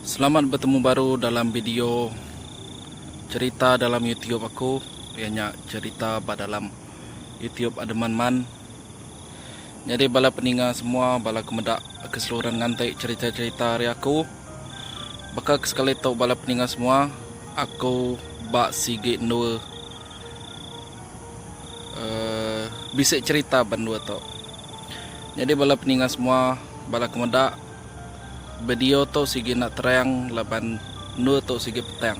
Selamat betemu baru dalam video cerita dalam YouTube aku iya nya cerita ba dalam YouTube Ademan Man. Nyadi bala peninga semua bala ke meda keseluruhan nganti cerita-cerita ari aku. Baka ke sekali tu bala peninga semua aku ba sigi endur uhh bisi cerita ba endur tu. Nyadi bala peninga semua bala ke meda video tu sigi enda terang laban endur tu sigi petang.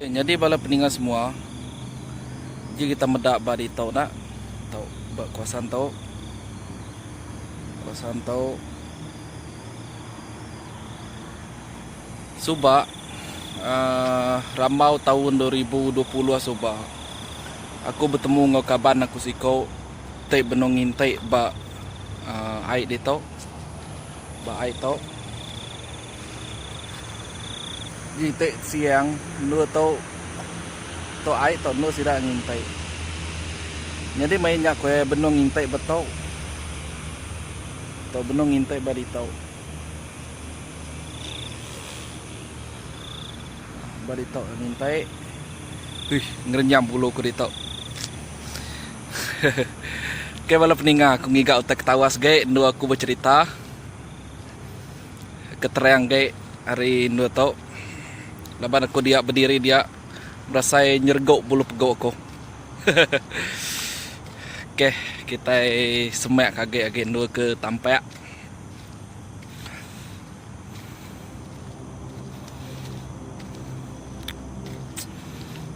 Nyadi bala peninga semua ji kita meda ba ditu enda tau ba kawasan tu kawasan tu suba aaa rambau taun dua ribu dua puluh suba aku betemu enggau kaban aku siko ti benung nginti ba aaa ai ditu ba ai tu. Nginti siang endur tu tu ai tu endur sida nginti. Nyadi meh inya ku iya benung nginti ba tu. Tu benung nginti ba ditu. Ba ditu nginti. Uih ngerenyam bulu ku ditu. Okey bala peninga aku ngiga utai ketawa sigi endur aku becerita. Keterang gai ari endur tu laban aku dia bediri dia berasai nyeregok bulu pegok aku. Hehehe ok kitai semak ka agi agi endur ke tampak.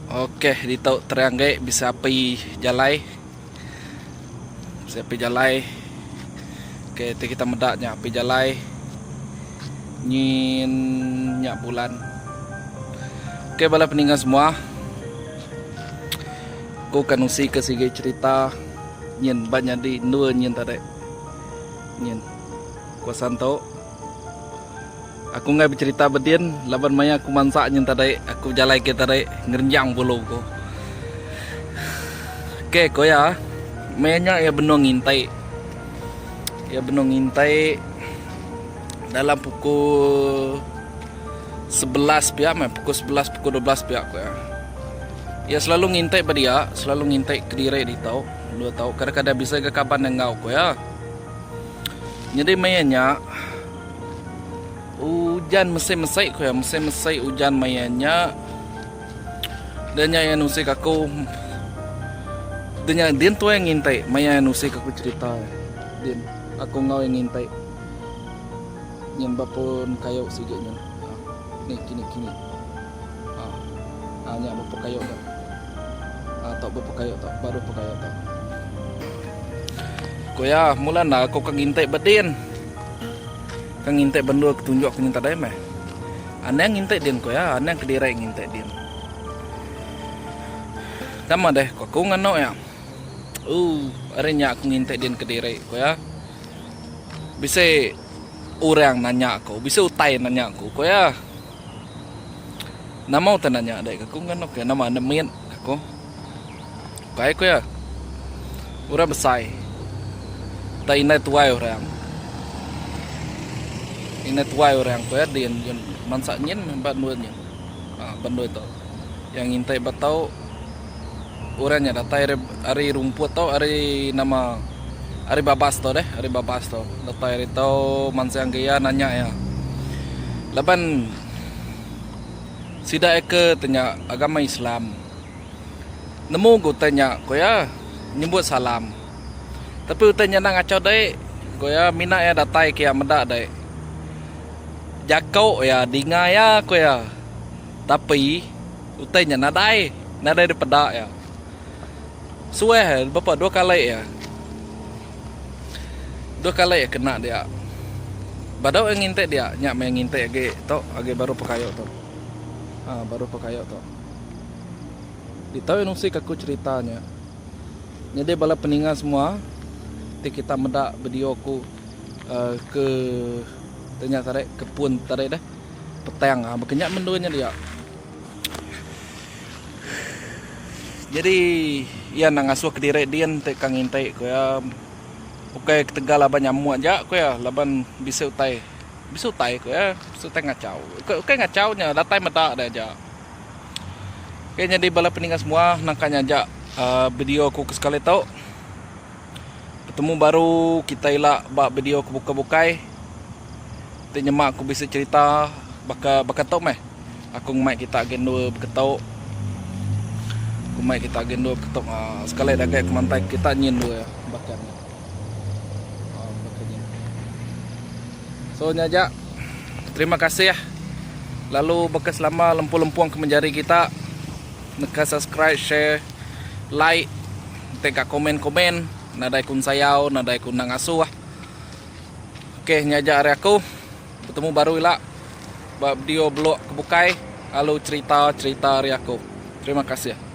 Ok ditu terang gai bisi api jalai. Saya api jalai. Okay, ti kita meda nya api jalai. Nyin nya bulan. Okay, bala peningga semua. Aku akan usi ke sigi cerita nyin ba nyadi endua nyin tadi. Nyin. Kuasan tu. Aku enggai becerita bedin laban maya aku mansa nyentadai aku bejalai kitai tadi ngerenjang bulu ku. Ok ko iya. Maya nya iya benung ngintai. Iya benung ngintai dalam pukul sebelas pia meh pukul sebelas pukul dua belas pia ko iya. Iya selalu ngintai ba dia, selalu ngintai kediri ditu, endur tau kadang-kadang bisi ga kaban enggau ko iya. Nyadi maya nya ujan mesti mesti ku iya mesti mesti ujan maya nya da nya iya nusi ka aku da nya din tuai ngintai maya iya nusi ka aku cerita din aku enggau iya ngintai nyin ba pun kayu sigi nya aaa ni kini kini aaa nya ba pun kayu nya. Atau bepekayo tau baru pekayo tau. Ku iya, mula enda aku ke ngintik ba din. Ke ngintik bendur ke tunjuk aku nyinta dai meh. Anang ngintik din ku iya, anang kediri ngintik din. Nama deh ku aku nganu iya. Ooh, ari nya aku ngintik din kediri ku iya. Bisi orang nanya aku, bisi utai nanya aku ku iya. Nama utai nanya deka ku ngan ukai nama enda mit aku. Ukai ku iya. Orang besai tau indai tuai orang. Indai tuai orang ku iya din mansa nyin ba endur nyin. Ba endur tu. Iya ngintai ba tau. orang nya datai ari ari rumput tu ari nama ari babas tu deh ari babas tu datai ari tu mansang ke iya nanya iya laban sida iya ke tu nya agama islam nemu ga utai nya ku iya nyebut salam tapi utai nya enda ngachau dai ku iya mina iya datai ke iya meda dai jako iya dinga iya ku iya tapi Utai nya nadai, nadai dipeda iya. Suah iya bepa dua kali iya. Dua kali iya kena dia. Badu iya ngintik dia, nya meh iya ngintik agi tu, agi baru pekayo tu. Ha baru pekayo tu. Ditu iya nusik aku cherita nya. Nyadi bala peninga semua ti kita meda video aku uh, ke tanya tadi ke pun tadi deh petang ha ah, bakanya mendua nya dia. Nyadi iya enda ngasuh kediri din ti ka nginti ku iya ukai ketegal aba nyamuk aja ku iya laban bisi utai bisi utai ku iya bisi utai ngachau ukai ngachau nya datai meda deh aja. Ok nyadi bala pendengar semua naka nya aja aaa video ku ke sekali tu. Betemu baru kita ila ba video ke bukai bukai ti nyema aku bisi cerita baka baka tu meh aku ngumbai kita agi endur beketo ngumbai kita agi endur beketo aaa sekali dah agi kemantai kita nyin endur iya baka ni aaa baka nyin. So nya aja terima kasih lalu baka selama lempung lempung ke menjadi kita neka subscribe share. like enti ka komen komen nadai ku ensayau nadai ku endang asuh ok nya aja ari aku betemu baru ila ba video blog ke bukai lalu cerita cerita ari aku terima kasih.